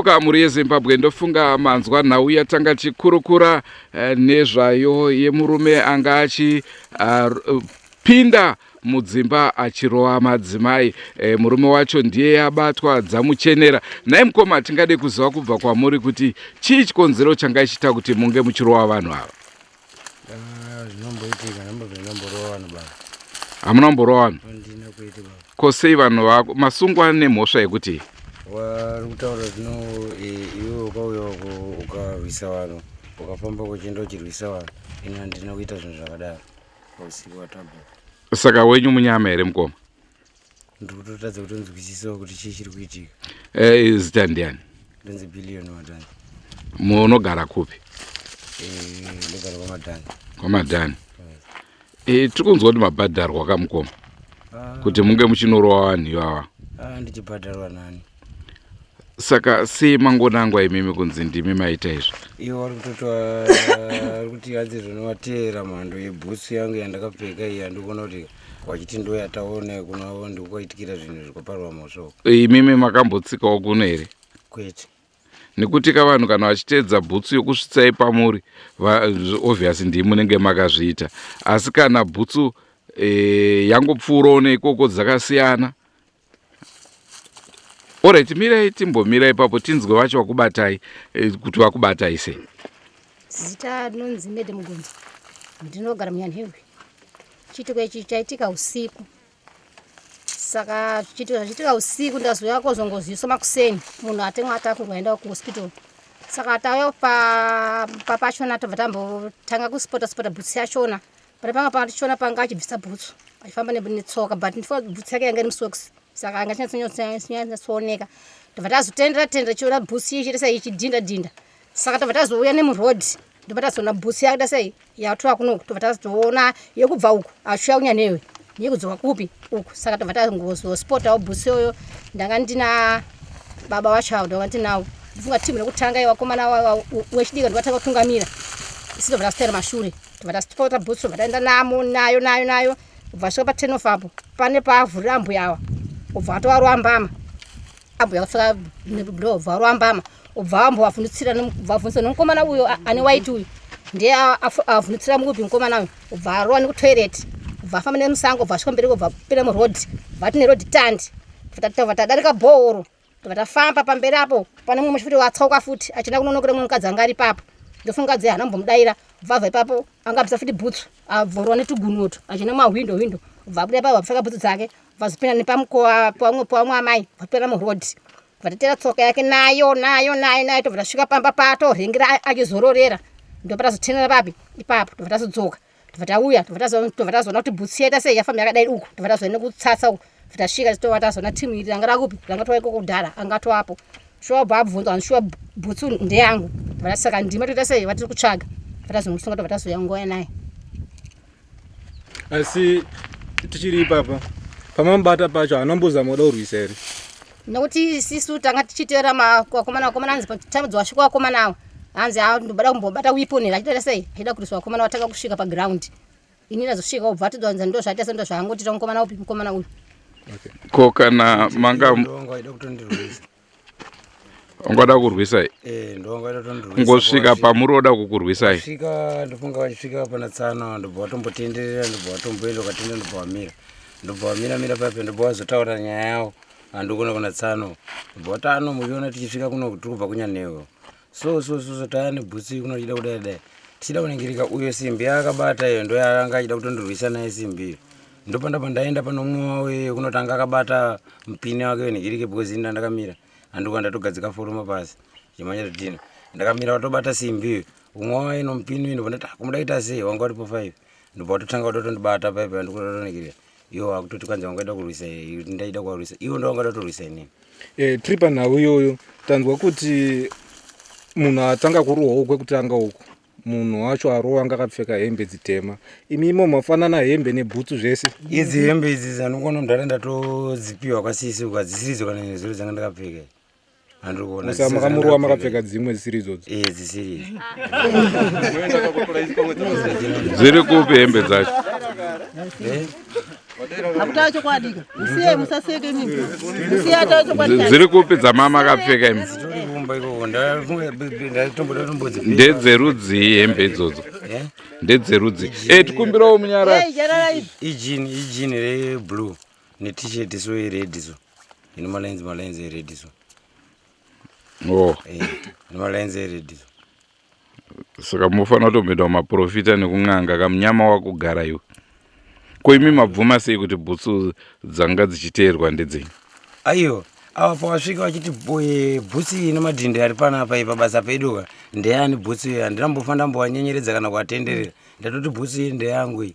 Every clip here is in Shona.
kuka mhuri yezimbabwe ndofunga manzwa nhau yatanga chikurukura eh, nezvayo yemurume anga achipinda eh, mudzimba achirova madzimai e, murume wacho ndiye abatwa dzamuchenera nhai mukoma tingade kuziva kubva kwamuri kuti chii chikonzero changa ichiita kuti munge muchirova vanhu ava ah, zvinomboitika ndambovenomborova vanhu baba hamuna kumborova vanhu andina kuita baba ko sei vanhu vako masungwa nemhosva yekuti wari kutaura zvino e, iwe ukauya ukarwisa vanhu ukafamba kuchienda uchirwisa vanhu ini handina kuita zvinhu zvakadaro saka wenyu munyama here mukoma ndiri kutotadza kutonzwisisawo kuti chii chiri kuitika eh, zita ndiani ndonzi billion madhani munogara kupi eh, ndogara kwamadhani kwamadhani eh, tiri kunzwa kuti mabhadharwa kamukoma ah. kuti munge muchinorowa vanhu ivava ah, ndichibhadharwa nani saka sei mangonangwa imimi kunzi ndimi maita izvi ivo vari kutotaari kuti hanzi zvinovateera mhando yebhutsu yangu yandakapfeka iyi andikuona kuti wachiti ndo yataone kunavo ndikukaitikira zvinhu zvikaparwa mhosvo imimi makambotsikawo kuno here kwete nekuti ka vanhu kana vachiteedza bhutsu yokusvitsai pamuri obvious ndii munenge makazviita asi kana bhutsu e, yangopfuurawo neikoko dzakasiyana Alright, mirai timbomira ipapo tinzwe vacho vakubatai eh, kuti vakubatai sei. Zita rinonzi Mede Mugonza. Ndinogara muNyanhevwe. Chiitiko ichi chaitika usiku. Saka chiitiko zvachiitika usiku ndazouya kozongozivisa makuseni munhu atemwa atakurwa aenda kuhospital. Saka tauya pa pa pachona tobva tambotanga kuspota spota bhutsi yachona pane pamwe panga tichiona panga achibvisa bhutsu achifamba netsoka but ndifa bhutsu yake yanga iri musocks saka anga chinyatsooneka ndobva tazotendera tendera chiona bhutsu iye chitesai ichidhinda dhinda saka tobva tazouya nemuroad ndobva tazoona bhutsu yake tasei yatoa kunoku tobva tazoona yekubva uku achiuya kunya newe yekudzoka kupi uku saka tobva tazozospotawo bhutsu iyoyo ndanga ndina baba wacho avo ndanga ndinawo ndifunga timu rekutanga iwakomana wechidika ndivatanga kutungamira isi tobva tasitera mashure tobva tasitipota bhutsu tobva taenda namo nayo nayo nayo ubva asvika paten of apo pane paavhurira ambuya awa ubva atova ruambama ambuya kusvika ndo ubva ruambama ubva ambovavhundutsira ubva avhundutsira nomukomana uyo ane waiti uyu ndiye avhundutsira mukupi mukomana uyu ubva arowa nekutoilet ubva afamba nemusango ubva asvika mberi ubva pira muroad ubva tine road tandi tatadarika bhooro tobva tafamba pamberi apo pane mumwe muchifuti watsauka futi achina kunonokera mumwe mukadzi anga ari papo ndofunga dze hana mbomudaira bvava ipapo anga apisa futi bhutsu abvorwa netugunoto achina mahwindo hwindo bva abuda ipapo apfeka bhutsu dzake vazopinda nepamukova pamwe pamwe amai vapera muroad vatatera tsoka yake nayo nayo nayo nayo tobva tasvika pamba pato rengera achizororera ndobva tazotenera papi ipapo tobva tazodzoka tobva tauya tobva tazoona kuti bhutsu yaita sei yafamba yakadai uku tobva tazoenda kutsatsa uku bva tasvika titova tazoona timu iri ranga rakupi ranga tova ikoko kudhara anga toapo shuwa bva abvunza vanhu shuwa bhutsu ndeyangu bva tasaka ndima toita sei vatiri kutsvaga bva tazomusunga tobva tazoya ngoya naye asi tichiri ipapa pamamubata pacho hanombozamoda urwisa here nokuti sisu tanga tichiteera vakomana vakomana hanzi time dzawasvika vakomana avo hanzi a ndoda kumbobata weapon here achitaira sei achida kuriswa vakomana vatanga kusvika paground ini ndazosvika ubva atoda hanzi ndozvaita se ndozvaangotita mukomana upi mukomana uyu ko kana manga ungada kurwisai eh, ngosvika pamuri oda kukurwisai svika ndofunga vachisvika pana tsano ndobva vatombotenderera ndobva vatomboenda ukatenda ndobva vamira ndobva vamira mira pape ndobva vazotaura nyaya yavo andikuna kuna tsano but ano muchiona tichisvika kuno tikubva kunyanhewo so so so so taya nebhutsi kuno tichida kudai dai tichida kuningirika uyo simbi yaakabata iyo ndo yaanga achida kutondirwisa naye simbi iyo ndopanda pandaenda pane umwe wawo iyo kunotanga akabata mupini wake wenhigirike because ini ndandakamira andikuwa ndatogadzika foroma pasi chimanya todina ndakamira watobata simbi iyo umwe wawo ino mupini uyu ndobva ndati akumuda ah, kuita sei wanga watipo five ndobva watotanga watotondibata paipa ndikutotonigirira Yo wakutoti kwanzi wanga waida kurwisa iwe ndaida kuwarwisa. Iwe ndo wanga waida kutorwisa inini. Eh, tiri panhau iyoyo tanzwa kuti munhu atanga kurohwawo kwekutanga uku munhu wacho arowa anga akapfeka hembe dzitema imi imo mafanana hembe nebhutsu zvese Idzi hembe idzi dzanongono ndara ndatodzipiwa kwasisi uko hadzisiridzo kana nezuro dzanga ndakapfeka. Musa makamurowa makapfeka dzimwe dzisiri idzodzo. Eh dzisiri. Dziri kupi hembe dzacho? Eh? Hakutaura chokwadi ka. Musiye musaseke nini. Musiye ataura chokwadi. Dziri kupi dzamama akapfeka imi? Ndedzerudzii hembe idzodzo? Eh? Ndedzerudzii. Eh tikumbirawo munyara. Eh, ijini ijini reblue. ne t-shirt so ered so ine malines malines ered so oh. Eh, ine malines ered so saka munofanira kutomboitawo maprofita nekun'anga kamunyama wakugara iwe ko imi mabvuma sei kuti bhutsu dzanga dzichiteerwa ndedzenyu aiwa ava pawasvika vachiti bhutsu iyi nemadhindi ari panapa ipa basa peduka ndeyani bhutsu iyo handina mbofanira mbowanyenyeredza kana kuatenderera ndatoti bhutsu iyi ndeyangu iyi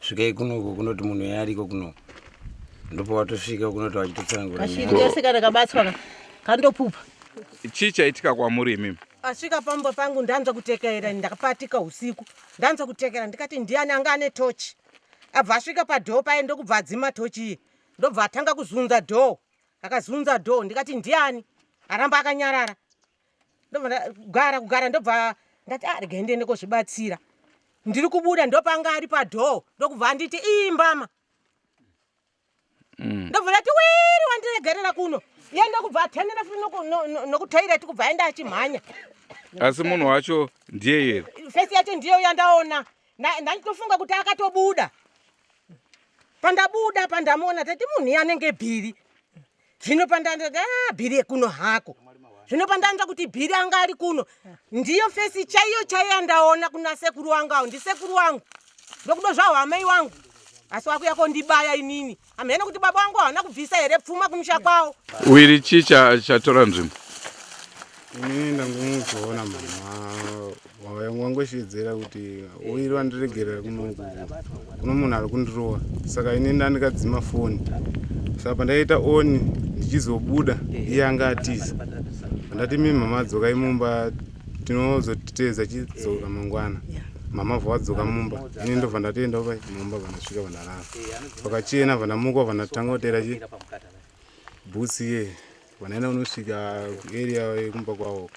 svikai kuno uko kunoti munhu uya ariko kuno ndopa watosvika kunoti wachitotsanangura nyaya. kashiri kese kana kabatswa ka- kandopupa chii chaitika kwamuri imimi asvika pamba pangu ndanzwa kutekerera ndakapatika usiku ndanzwa kutekerera ndikati ndiani anga ane tochi abva asvika padhoo paye ndokubva adzima tochi iye ndobva atanga kuzunza dhoo akazunza dhoo ndikati ndiani aramba akanyarara ndogara kugara ndobva ndati ah regai ndiende kozvibatsira ndiri kubuda ndopanga ari padhoo ndokubva anditi iyi mbama mm. ndobva ndati wiri wandiregerera kuno iye ndokubva atengera futi nokutoireti kubva aenda achimhanya asi munhu wacho ndiye here fesi yacho ndiyo yandaona ndanditofunga kuti akatobuda pandabuda pandamuona tati munhu iye anenge bhiri zvino pandanda da ah, bhiri yekuno hako zvino pandanza kuti bhiri anga ari kuno ndiyo fesi chaiyo chaiyo yandaona kuna sekuru wangu awo ndisekuru wangu ndokudo zvawo amai wangu asi wakuya kondibaya inini hamhena kuti baba wangu hawana kubvisa here pfuma kumusha kwawo wiri chii chatora nzvimbo ini ndangomuzoona mama wangosheedzera kuti oiri vandiregerera kuno kuno munhu ari kundirova saka ini ndandikadzima foni saka pandaita oni ndichizobuda iye anga atiza andati mi mama dzokai mumba tinozotiteedza chidzoka mangwana mama vavadzoka mumba ini ndobva ndatoenda pa mumba vandasvika vandarara vakachena vandamuka vandatanga kutera chi bhusi ye vanaina unosvika area yekumba kwavo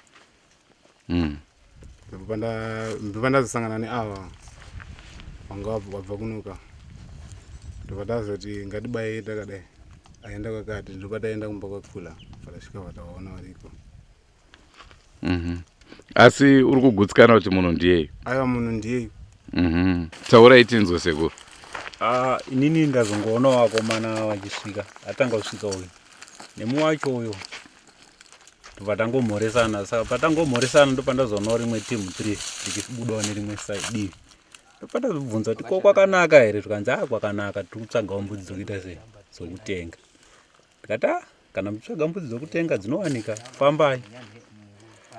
mm. ndobva ndazosangana neava vanga wabva kunoka ndobva tazoti ngatibaye takadai aenda kwakati ndobva taenda kumba kwakula vakasvika vatawaona variko Mhm. Asi uri kugutsikana kuti munhu ndiyeyu. aiwa munhu ndiyeyu Mhm. Taurai tinzwe sekuru. Ah, inini ndazongoona vakomana vachisvika atanga kusvika uyu nemu wacho uyo ndobva tangomhoresana saka patangomhoresana ndopandazoonawo rimwe timu three richibudawo nerimwe side divi ndopandazobvunza kuti ko kwakanaka here zvikanzi a kwakanaka tiri kutsvagawo mbudzi dzokuita sei dzokutenga ndikati ah, kana muchitsvaga mbudzi dzokutenga dzinowanika fambai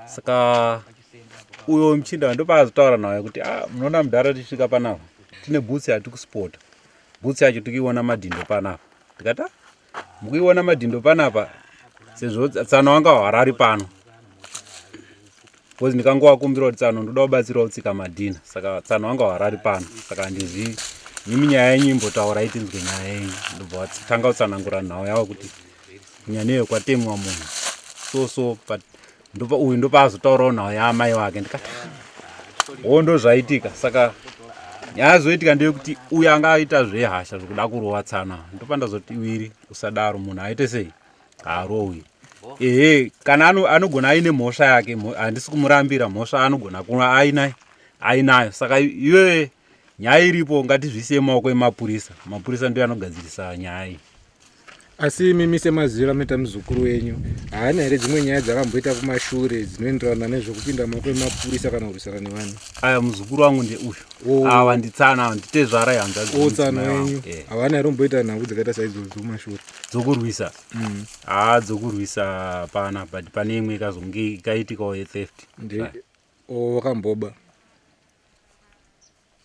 saka uyo muchinda wandopaazotaura nawo kuti ah, munoona mudhara tichisvika panapa tine bhutsi yatikuspota bhutsi yacho tikuiona madhindo panapa ndikati ah, mukuiona madhindo panapa sezvo tsano wanga hwarari pano because ndikangovakumbira kuti tsano ndoda kubatsirawo tsika madhina saka tsano vanga varari pano saka handizvii imi nyaya yenyu imbotaurai tinzwe nyaya yenyu ndobva vatanga kutsanangura nhau yavo kuti nyaya neyo kwatemwa munhu so so but ndopa uyu ndopaazotaurawo nhau yaamai vake ndikati wo ndozvaitika saka nyaya zoitika ndeyekuti uyu anga aita zvehasha zvekuda kurova tsana ndopa ndazoti wiri usadaro munhu aite sei harowi ehe kana anogona aine mhosva yake handisi kumurambira mhosva anogona kuva ainayo ainayo saka iwe nyaya iripo ngatizvisiye maoko emapurisa mapurisa ndiyo anogadzirisa nyaya iyi asi mimi semaziva meta muzukuru wenyu haana here dzimwe nyaya dzakamboita kumashure dzinoenderana nezvekupinda maoko emapurisa kana kurwisana nevanhu aya muzukuru wangu ndeuyu oh. ava nditsana ava nditezvara yanzaotsana oh, wenyu eh. havana here kumboita nhau dzakaita saidzodzo kumashure dzokurwisa mm. haa dzokurwisa pana but pane imwe ikazonge ikaitikawo yetheft wakamboba oh,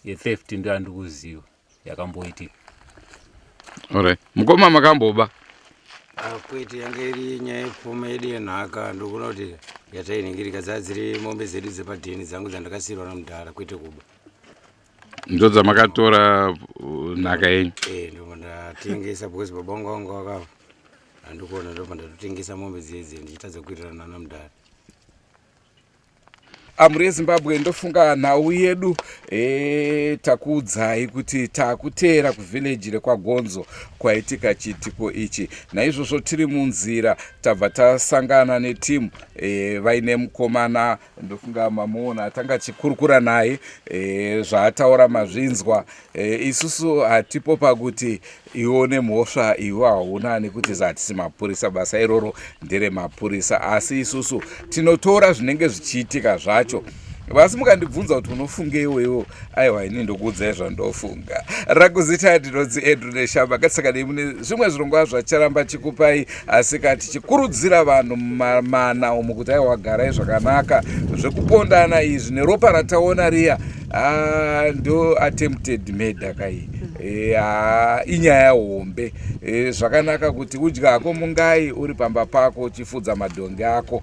yetheft ndo andikuziva yakamboitika orit mukoma makamboba ah, kwete yanga iri nyaya yepfuma yedu yenhaka ndokuna kuti yatainenge rikadzadziri mombe dzedu dzepadheni dzangu dzandakasiyirwa nomudhara kwete kuba ndodzamakatora uh, nhaka yenyu eh, ndomandatengesa because baba vangu vangu vakava andikuona ndopa ndatotengesa mombe dzedze ndichitadza kuitirana nana mudhara amhuri yezimbabwe ndofunga nhau yedu e, takuudzai kuti takuteera kuvhileji rekwagonzo kwaitika chiitiko ichi naizvozvo tiri munzira tabva tasangana netimu e, vaine mukomana ndofunga mamuona atanga achikurukura naye e, zvaataura mazvinzwa e, isusu hatipo pakuti iwo nemhosva iwo hauna nekuti zahatisi mapurisa basa iroro ndere mapurisa asi isusu tinotora zvinenge zvichiitika zvacho vasi mukandibvunza kuti unofungeiwo iwo aiwa ini ndokuudzai zvandofunga rakuzita ndinonzi andrew neshamba katisaka nei mune zvimwe zvirongwa zvacharamba chikupai asi ka tichikurudzira vanhu mumamana umu kuti aiwa garai zvakanaka zvekupondana izvi neropa rataona riya ah, ndo attempted murder kai eh, ah, inyaya hombe eh, zvakanaka kuti udya hako mungai uri pamba pako uchifudza madhongi ako